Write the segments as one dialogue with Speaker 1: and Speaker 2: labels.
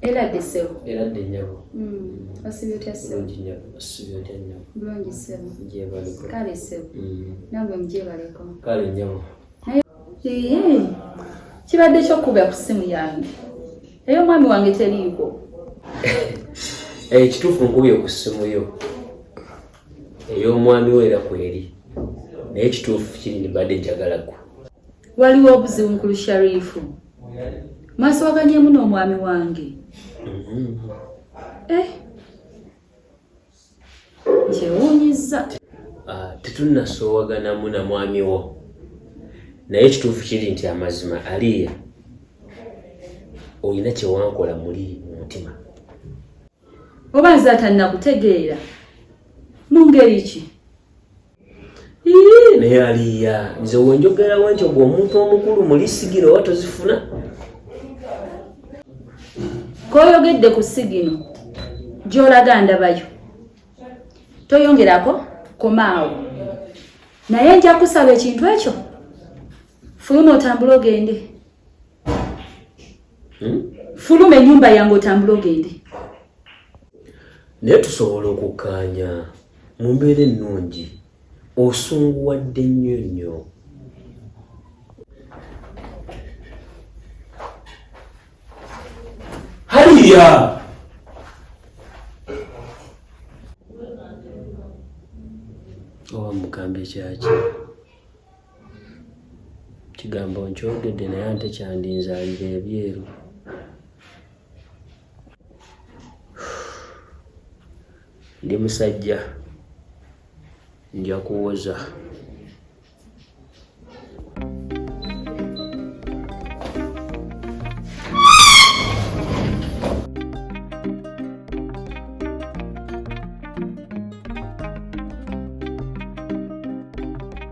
Speaker 1: eradde
Speaker 2: sebo eradde
Speaker 1: nyabo osibyotya
Speaker 2: seboosibyotya
Speaker 1: nyabo bulungi sebo
Speaker 2: jebaleko kale
Speaker 1: sebo
Speaker 2: nabwe mujebaleko kale nyabo kibadde kyokuba ku simu yange eyo omwami wange teriiko
Speaker 1: ekituufu eh, nkubye ku simu yo ey'omwami we era kweri naye ekituufu kiri nibadde njagala gwe waliwo obuzibu
Speaker 2: mukulu sharifu maaso waganyemu n'omwami wange eh. kyewuunyiza ah, tetunasoowaganamu
Speaker 1: na mwami wo naye ekituufu kiri nti amazima aliya olina kyewankola muli mu mutima
Speaker 2: oba nze atannakutegeera mu ngeri ki
Speaker 1: naye aliya nze wenjogera wentyo gwe omuntu omukulu muli sigino oba tozifuna
Speaker 2: koyogedde ku sigino gyolaga ndabayo toyongerako komaawo naye nja kusaba ekintu ekyo fuluma otambule ogende hmm? fuluma enyumba yange otambula ogende naye
Speaker 1: tusobola okukkaanya mu mbeera ennungi osunguwadde nnyo nnyo haliya oba mugambe kyaki kigambo nkyogedde naye ante kyandinzaalira ebyeru ndi musajja nja kuwoza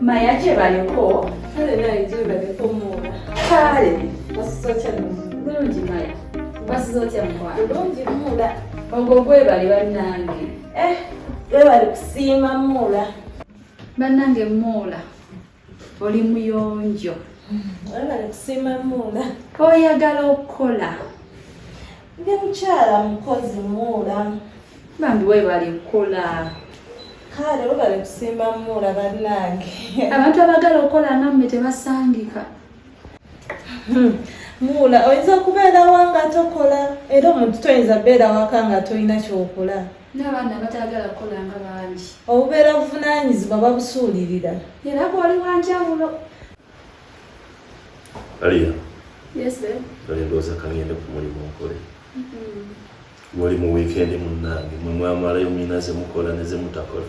Speaker 2: maya gyebaliko kale naye
Speaker 3: gyebaliko muula kale
Speaker 2: basiza otya
Speaker 3: bulungi maya
Speaker 2: basiza otya mukwano bulungi muula
Speaker 3: ogwo gwebali
Speaker 2: bannange eh gwebali
Speaker 3: kusiima muula bannange
Speaker 2: muula oli muyonjo
Speaker 3: oyagala
Speaker 2: okukola
Speaker 3: ndi mukyala mukozi muula bambi
Speaker 2: webale kukola kale
Speaker 3: webale kusimba muula bannange abantu abagala
Speaker 2: okukola namme tebasangika hmm.
Speaker 3: muula oyinza okubeerawa nga tokola era omuntu toyinza beera waka nga tolina kyokola n'abaana
Speaker 2: abatayagala kukola nga bangi obubeera
Speaker 3: buvunaanyizibwa babusuulirira era gwali
Speaker 2: wanjawulo aliya ndowooza kangende
Speaker 4: ku mulimu nkole mm-hmm. wali mu wiikendi munnange mwe mwamalayo mina ze mukola ne ze mutakola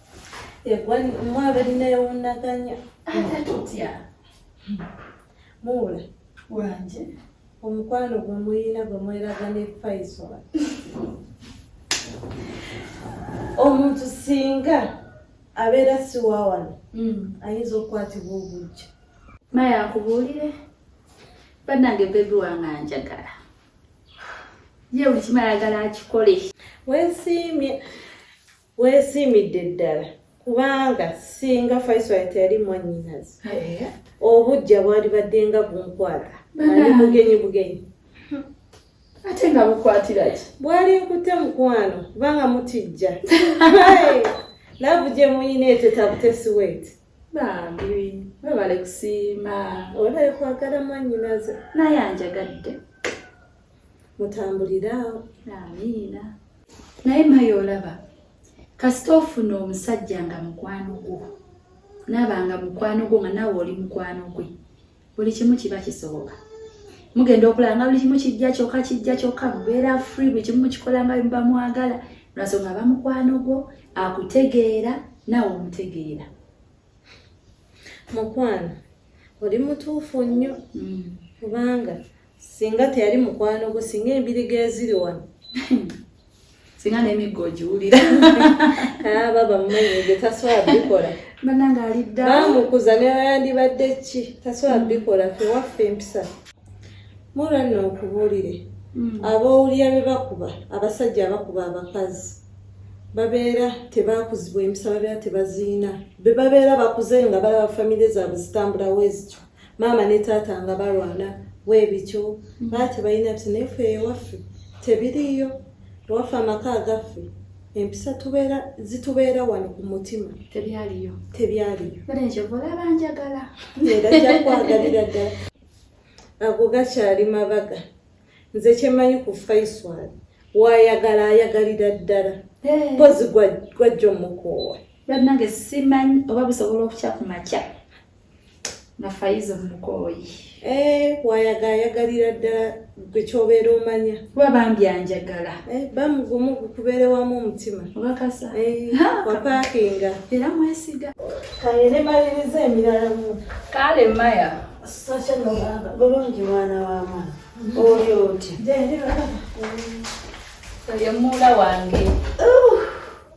Speaker 3: egwani omwaba linewundaganya ate tutya muula wanje
Speaker 2: omukwano
Speaker 3: gwe muyina gwe mweraga ne faisola omuntu singa abeera siwawano hmm. ayinza okukwatibwa obujja maya
Speaker 2: akubuulire banange bebi wange anjagala ye buli kimala agala akikole wesiimye
Speaker 3: Weesiimidde ddala kubanga singa Faisal teyali mwannyinaze eh? obujja bwalibadde nga bunkwata ali bugenyi bugenyi
Speaker 2: ate nga bukwatira ki bwali nkute
Speaker 3: mukwano kubanga mutijja laavu gye muyina etetabutesi weeti bambi
Speaker 2: webale kusiima webale kwagala
Speaker 3: mwannyinaze naye anjagadde
Speaker 2: mutambuliraawo
Speaker 3: amiina
Speaker 2: naye maye olaba kasita ofuna omusajja nga mukwano gwo naaba nga mukwano gwo nga naawe oli mukwano gwe buli kimu kiba kisoboka mugenda okulaba nga buli kimu kijja kyokka kijja kyokka mubeera free buli kimu mukikola nga bimuba mwagala lwasonga aba mukwano gwo akutegeera naawe omutegeera
Speaker 3: mukwano oli mutuufu nnyo mm. kubanga mm. singa teyali mukwano gwo singa embiriga eziri wano
Speaker 2: singa n'emiggo ogiwulira ah,
Speaker 3: baba mumanyige tasobola bikola banange alidda
Speaker 2: bamukuza newayandibadde
Speaker 3: ki tasobola mm. bikola fewaffe empisa mura nno okubuulire mm. abowulira be bakuba abasajja abakuba abakazi babeera tebakuzibwa empisa babeera tebaziina be babeera bakuze nga balaba famire zaabwe zitambulawo ezikyo maama ne taata nga balwana weebityo mm. baa tebalina bti naye fe ewaffe tebiriiyo ewaffe amaka agaffe empisa tubeera zitubeera wano ku mutima tebyaliyo
Speaker 2: tebyaliyo
Speaker 3: abanjagala
Speaker 2: era
Speaker 3: jakwagalira ddala ago gakyali mabaga nze kyemanyi ku faiswal wayagala ayagalira ddala mpozi eh. gwajja omukoowa banange
Speaker 2: simanyi oba busobola okukya ku makya nafaiza omukooyi eh, wayaga
Speaker 3: ayagalira ddala gwe kyobeera omanya kuba bambi
Speaker 2: anjagala eh, bamugumu
Speaker 3: gukubeere wamu omutima obakasa eh,
Speaker 2: wapaakinga
Speaker 3: era mwesiga
Speaker 2: kaye ne
Speaker 3: maliriza emirala mu kale maya
Speaker 2: sosya
Speaker 3: nobaba bulungi mwana wa mwana
Speaker 5: mm-hmm. oli otya gyendi baba
Speaker 3: oyo
Speaker 2: muula wange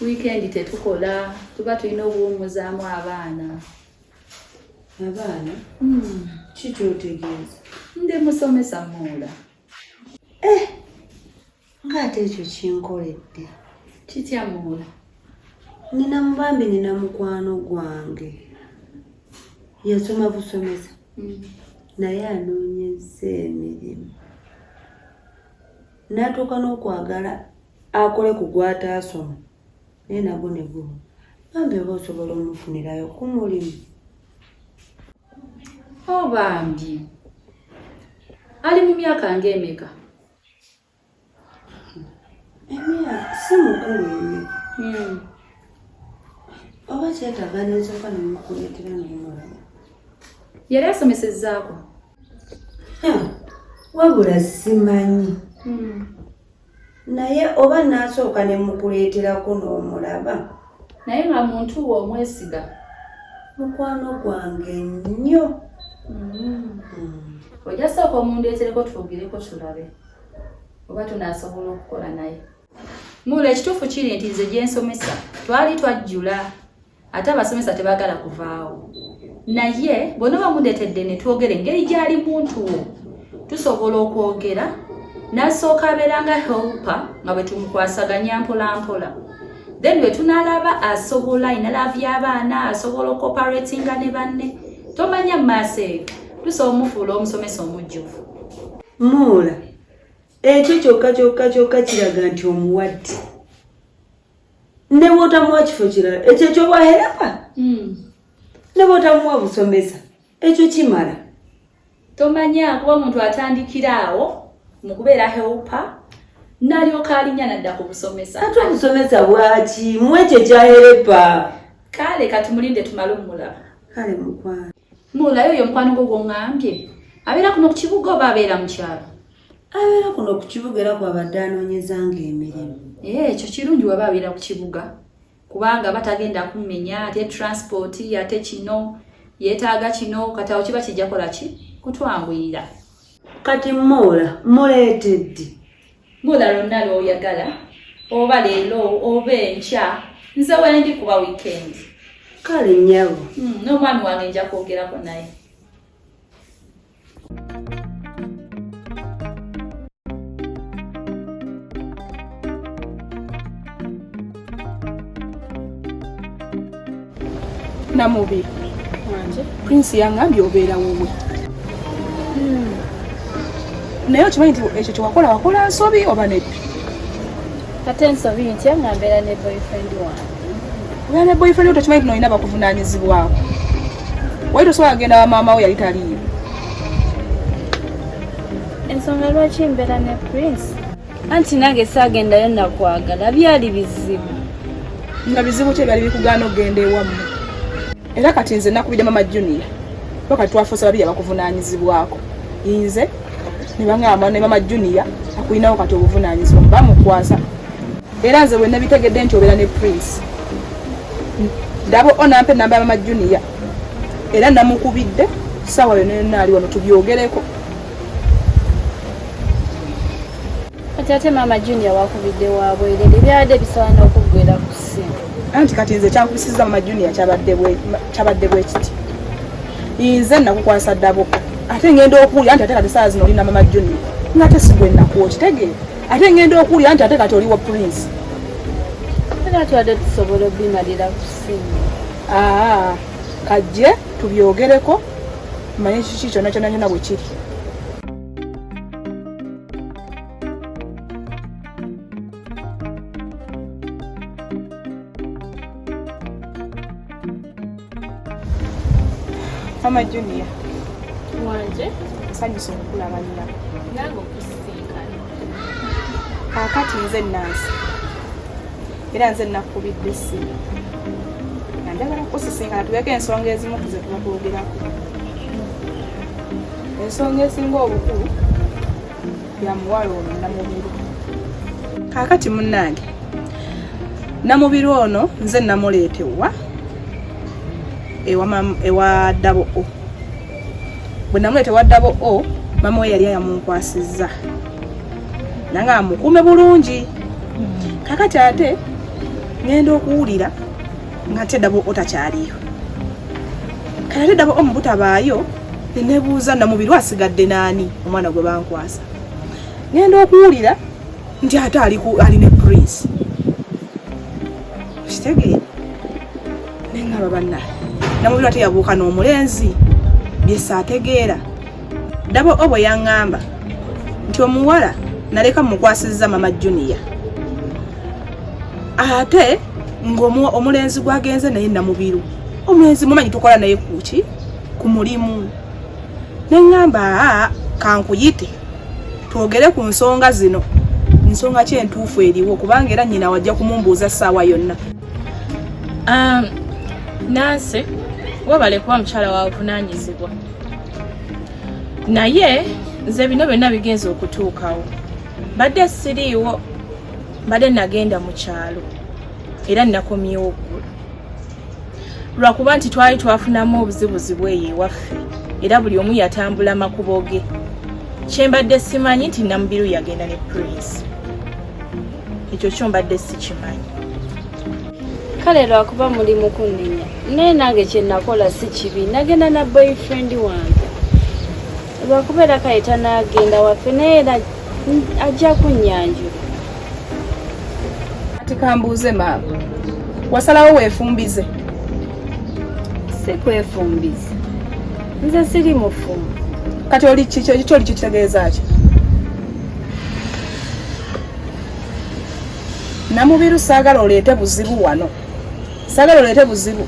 Speaker 5: wiikendi
Speaker 2: tetukola tuba tulina obuwummuzaamu abaana
Speaker 5: abaana hmm. ki kyotegeeza ndi musomesa
Speaker 2: muula eh,
Speaker 5: ngaate ekyo kinkoledde kitya
Speaker 2: muula nina
Speaker 5: mubambi nina mukwano gwange yasoma busomesa hmm. naye anoonyeza emirimu natuuka n'okwagala akole ku gwataasoma naye nagwo ne gumu bambi oba osobola omufunirayo ku mulimu
Speaker 2: o oh, bambi ali mu myaka ng'emeka
Speaker 5: emya si mukulu nnyo hmm. oba kyetaaga nensooka nemukuleetera nemulaba
Speaker 2: yali asomesezaako
Speaker 5: wabula simanyi hmm. naye oba nasooka ne mukuleeterako n'omulaba naye nga
Speaker 2: muntu we omwesiga mukwano
Speaker 5: gwange nnyo mm.
Speaker 2: ojja sooka omundeetereko twogireko tulabe oba tunasobola okukola naye mula ekituufu kiri nti nze gyensomesa twali twajjula ate abasomesa tebagala kuvaawo naye bona bamundetedde netwogera engeri gyali muntu wo tusobola okwogera nasooka abeera nga helpa nga bwetumukwasaganya mpolampola then bwetunalaba asobola inalavu yabaana asobola okoparatinga ne banne tomanya mumaaso eyo tusobola omufuula omusomesa omujjuvu muula
Speaker 5: ekyo kyokka kyokka kyokka kiraga nti omuwadde ne bwotamuwa kifo kirala ekyo ekyobwaherapa hmm. ne bwotamuwa busomesa ekyo kimala tomanya
Speaker 2: kuba omuntu atandikira awo mu kubeera helpa nalyoka alinya nadda ku busomesa ate obusomesa
Speaker 5: bwaki mu ekyo ekyaherepa kale
Speaker 2: katumulinde tumale omulaba kale
Speaker 5: mukwano mulayo oyo omukwano
Speaker 2: gwo gwongambye abeera kuno ku kibuga oba abeera mu kyalo abeera kuno
Speaker 5: ku kibuga era kwabadde anoonyezanga emirimu eh, ekyo kirungi
Speaker 2: waba abeera ku kibuga kubanga batagenda kumenya ate transport ate kino yeetaaga kino kati awo kiba kijja kola ki kutwanguyira kati
Speaker 5: moola muleeteddi moola
Speaker 2: lwonna lwoyagala oba leero oba enkya nze wendi kuba wiikendi kale
Speaker 5: nyabo hmm, n'omwami wange
Speaker 2: nja kwogerako naye
Speaker 6: namubi prince yangambye obeera wowe hmm. naye okimanyi nti ekyo kyewakola wakola nsobi oba neddi
Speaker 7: ate nsobi ntya nga mbeera ne boyfriend wange Wali
Speaker 6: boyfriend tokimanyi tino olina bakuvunaanyizibwako. Wali tosobola kugenda wa maama wo yali taliyo.
Speaker 7: Ensonga lwaki mbeera ne Prince? Anti nange saagendayo nakwagala byali bizibu. Nga
Speaker 6: bizibu ki ebyali bikugaana okugenda ewammwe? Era kati nze nakubidde mama Junior. Kati twafuuse babiri abakuvunaanyizibwako. Inze ne bangamba ne mama Junior akulinawo kati obuvunaanyizibwa bamukwasa era nze wenabitegedde nti obeera ne prince ndaba onampa enamba ya mama junior era namukubidde saawa yona yonna ali wano tubyogereko
Speaker 7: kati ate maama junior wakubidde wabwerere byabadde bisaana okuggwera ku ssimu anti kati nze
Speaker 6: kyankubisiza maama junior kyabadde bwekiti nze nakukwasa ddabuka ate ngenda okuwulira nti ate kati saawa zino olina maama junior nga ate sigwe nakuwa okitegeera ate ngenda okuwulira nti ate kati oliwo prince
Speaker 7: era twadde tusobola obimalira kusimu aa kajje
Speaker 6: tubyogereko manye kiki kyona kyona nyona bwe kiri Mama Junior.
Speaker 7: Wanje. Nsanyuse
Speaker 6: okukulaba nnyina. Nange
Speaker 7: okusinkana.
Speaker 6: Kaakati nze nansi. Era nze nakubidde essimu. Nga njagala kukusisinkana tubeeko ensonga ezimu ku ze tuba twogerako. Ensonga esinga obukulu ya muwala ono Namubiru. Kaakati munnange Namubiru ono nze namuleeta ewa ewa ddabo o bwe namuleeta ewa ddabo o mama we yali ayamunkwasizza nanga amukuume bulungi kakati ate ngenda okuwulira ngate dabo otakyaliyo kati dabo omu butabaayo nenebuuza namubiri asigadde naani omwana gwe bankwasa ngenda okuwulira nti ate ali ne prince kitegee nengaba banna namubiri ate yabuuka n'omulenzi byesaategeera ndaba obo yaŋŋamba nti omuwala naleka mukwasizza mama junior ate ngaomulenzi gwagenze naye namubiru omulenzi mumanyi tukola naye kuki ku mulimu neŋŋamba aa kankuyite twogere ku nsonga zino nsonga ki entuufu eriwo kubanga era nyina wajja kumumbuuza ssaawa yonna um,
Speaker 8: nansi webale kuba mukyala wavunanyizibwa naye nze bino byonna bigenza okutuukawo mbadde siriiwo mbadde nagenda mu kyalo era nakomyewo oggulu lwakuba nti twali twafunamu obuzibuzibu eyo ewaffe era buli omu yatambula makubo ge kyembadde simanyi nti namubiru yagenda ne prince ekyo kyo mbadde sikimanyi
Speaker 7: kale lwakuba muli mukunenya naye nange kyenakola si kibi nagenda na boyfriend wange lwakuba era kale tanagenda waffe naye era ajja kunyanjula
Speaker 6: ati kambuuze maama wasalawo wefumbize
Speaker 7: si kwefumbize nze siri mufumbi kati oli
Speaker 6: kiki oli kitegeeza ki namubiru saagala oleete buzibu wano saagala oleete buzibu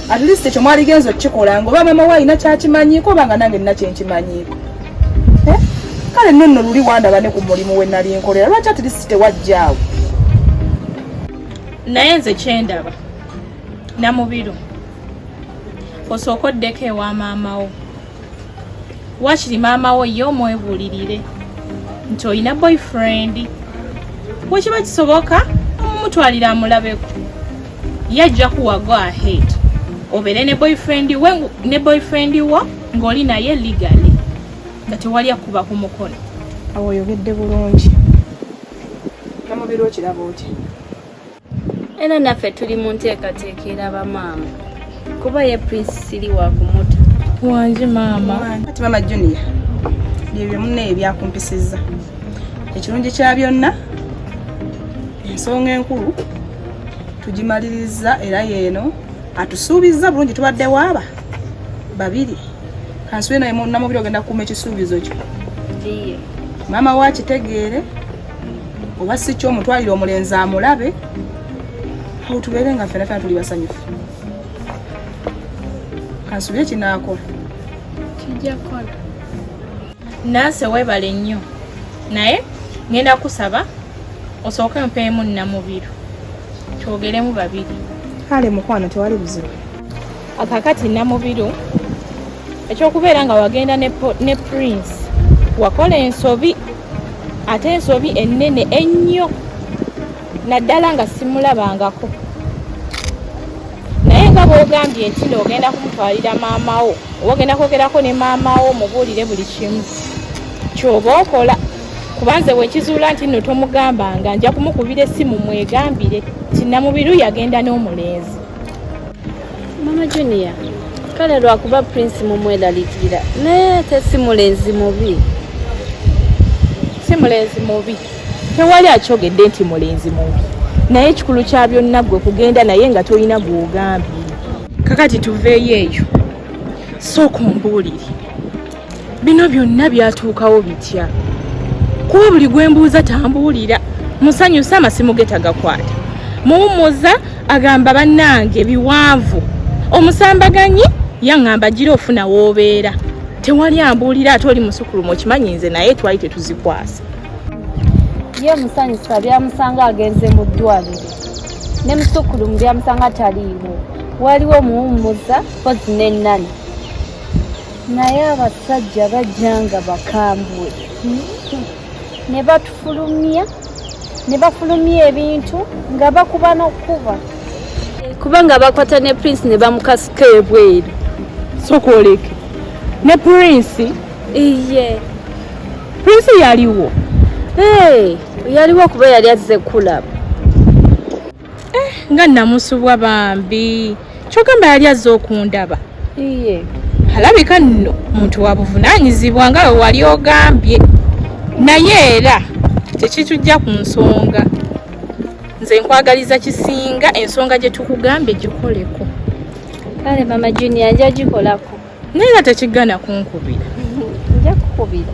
Speaker 6: at least ekyo mwaligenza okukikola ngaoba mama we alina kyakimanyiiko oba nga nange nina kyenkimanyiiko eh? kale nno nno luli wandaba ne ku mulimu we nali nkolera lwaki at least tewajjaawo
Speaker 8: naye nze kyendaba namubiru osooka oddeko ewa maama wo wakiri maama wo ye omwebulirire nti olina boyfriend wekiba kisoboka omumutwalira amulabeko ye ajja kuwa go ahead obeere ne boyfriend we ne boyfriend wo ng'oli naye legally nga tewali akuba ku mukono awo oyogedde
Speaker 6: bulungi namubiri okiraba otya
Speaker 7: era naffe tuli mu nteekateeka eraba maama kuba ye prince siri wakumuta wangi
Speaker 8: maama kati maama junior
Speaker 6: byebyo munne ebyakumpisizza ekirungi kya byonna ensonga enkulu tugimaliriza era yeeno atusuubizza bulungi tubadde waaba babiri kansule naye namubiri ogenda kukuuma ekisuubizo kyo
Speaker 7: maama we
Speaker 6: akitegeere oba si kyo omutwalire omulenzi amulabe awo tubeere nga ffena fena tuli basanyufu kansubire kinaakola kijja
Speaker 8: kola nanse webale nnyo naye ngenda kusaba osooke mpeemu nnamubiru twogeremu babiri kale mukwano
Speaker 6: tewali buzibu akakati
Speaker 8: namubiru ekyokubeera nga wagenda ne prince wakola ensobi ate ensobi ennene ennyo naddala nga simulabangako naye nga bwogambye nti noogenda kumutwalira maama wo oba ogenda kwogerako ne maama wo mubuulire buli kimu kyoba okola kubanze bwekizuula nti nno tomugambanga nja kumukubira essimu mwegambire tinamubiru yagenda n'omulenzi
Speaker 7: mama junior kale lwakuba prince mumwelalikira naye ate si mulenzi mubi
Speaker 8: si mulenzi mubi tewali akyogedde nti mulenzi mubi naye ekikulu kya byonna gwe kugenda naye nga tolina gwogambye kakati tuveeyo eyo sooka ombuulire bino byonna byatuukawo bitya kuba buli gwe mbuuza tambuulira musanyusa amasimu ge tagakwata muwummuza agamba bannange biwanvu omusambaganyi yaŋŋamba gira ofuna woobeera tewali ambuulira ate oli musukulumu okimanyi nze naye twali tetuzikwasa
Speaker 7: ye musanyusa byamusanga agenze mu ddwaliro ne musukulumu byamusanga taliiwo waliwo muwummuza pozi n'ennani naye abasajja bajja nga bakambwe ne batufulumya ne bafulumya ebintu nga bakuba n'okukuba kubanga bakwata ne prince ne bamukasuka ebweru sokwoleke
Speaker 8: ne prince iye prince yaliwo
Speaker 7: yaliwo kuba yali azze kulaba eh,
Speaker 8: nga namusubwa bambi kyogamba yali azze okundaba iye
Speaker 7: alabika
Speaker 8: nno muntu wabuvunaanyizibwa nga we wali ogambye naye era tekitujja ku nsonga nze nkwagaliza kisinga ensonga gye tukugambye gikoleko kale
Speaker 7: mama junia nja gikolako naye nga tekigana
Speaker 8: kunkubira nja
Speaker 7: kukubira